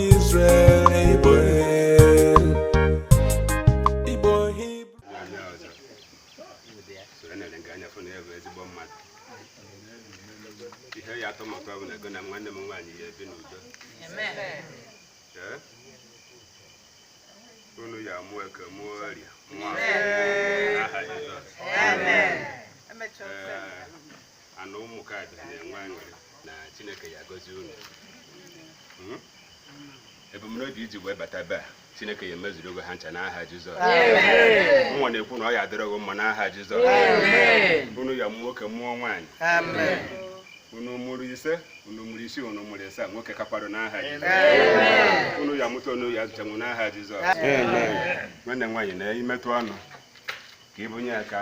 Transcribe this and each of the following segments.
Israel Igbo Igbo Igbo ihe ya atọ maka ọbụla ego na nwanne m nwaanyị ya ebi n'udo unu ya amụọ eke mụọ orie mụọ aha Jizọs Amen. ana ụmụ ka bịara na-enwe aṅụrị na chineke ya agọzi unu Hmm? ebumnobi i ji wee bata be a chineke ya emezuru ogo ha ncha n'aha jizọs mụwa na-ekwu na ọ ya adịrọ gị mma n'aha jizọs unu ya mụ nwoke mụọ nwaanyị unu mụrụ ise unu mụrụ isii unu mụrụ ịsaa nwoke kakwado n'aha jizọs unu ya mụta unu ya azụchanwu n'aha jizọs nwanne m nwaanyị na imetụ ọnụ ka ịbụnye ya ka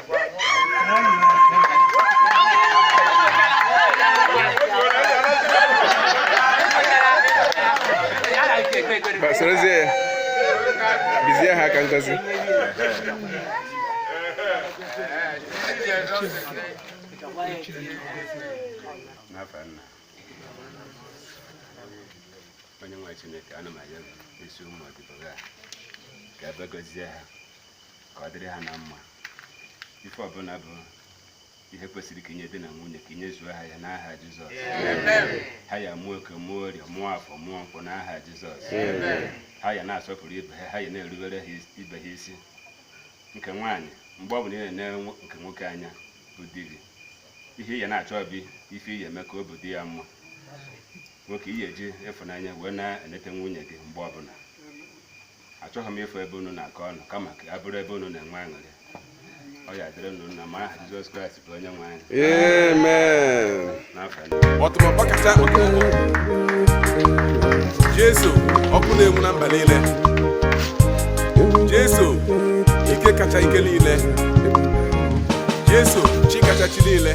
sorozie ya bizie ha aka ngozi n'ahụ nna onye nwe chineke ana m arịọ n'isi ụmụ odibo gị a ka ị bịa gọzie ha ka ọ dịrị ha na mma ife ọbụla bụ ihe kwesịrị ka i nye di na nwunye ka i nyezuo ha ya n'aha Jizọs ha ya mụọ eke mụọ orie mụọ afọ mụọ nkwọ n'aha Jizọs ha ya na-asọpụrụ ibe ha ha ya na-erubere ibe ha isi nke nwaanyị mgbe ọ bụla ị na-ene nke nwoke anya bụ di gị ihe ị ya na-achọ bụ ife ị ya eme ka obi dị ya mma nwoke ị ya eji ịfụnanya wee na-enete nwunye gị mgbe ọbụla achọghị m ịfụ ebe unu na-akọ ọnụ kama ka ọ bụrụ ebe unu na-enwe aṅụrị ọ ya adịrị unu na mma n'aha Jizọs Kraịst bụ onye nwe anyị ọtụmọkpọ kacha Jesu ọkụ na-enwu na mba niile Jesu ike kacha ike niile Jesu chi kacha chi niile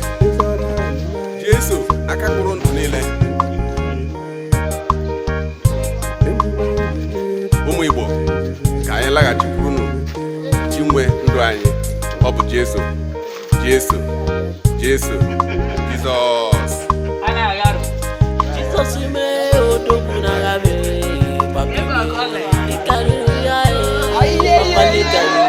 Jesu aka kpụrụ ndụ niile ụmụ Igbo ka anyị laghachikwurunu chi nwe ndụ anyị ọ bụ Jesu Jesu Jesu Jizọs Jizọs m ee odogwu n'agha m ee ị karịrị ya ee ọkpali karịrị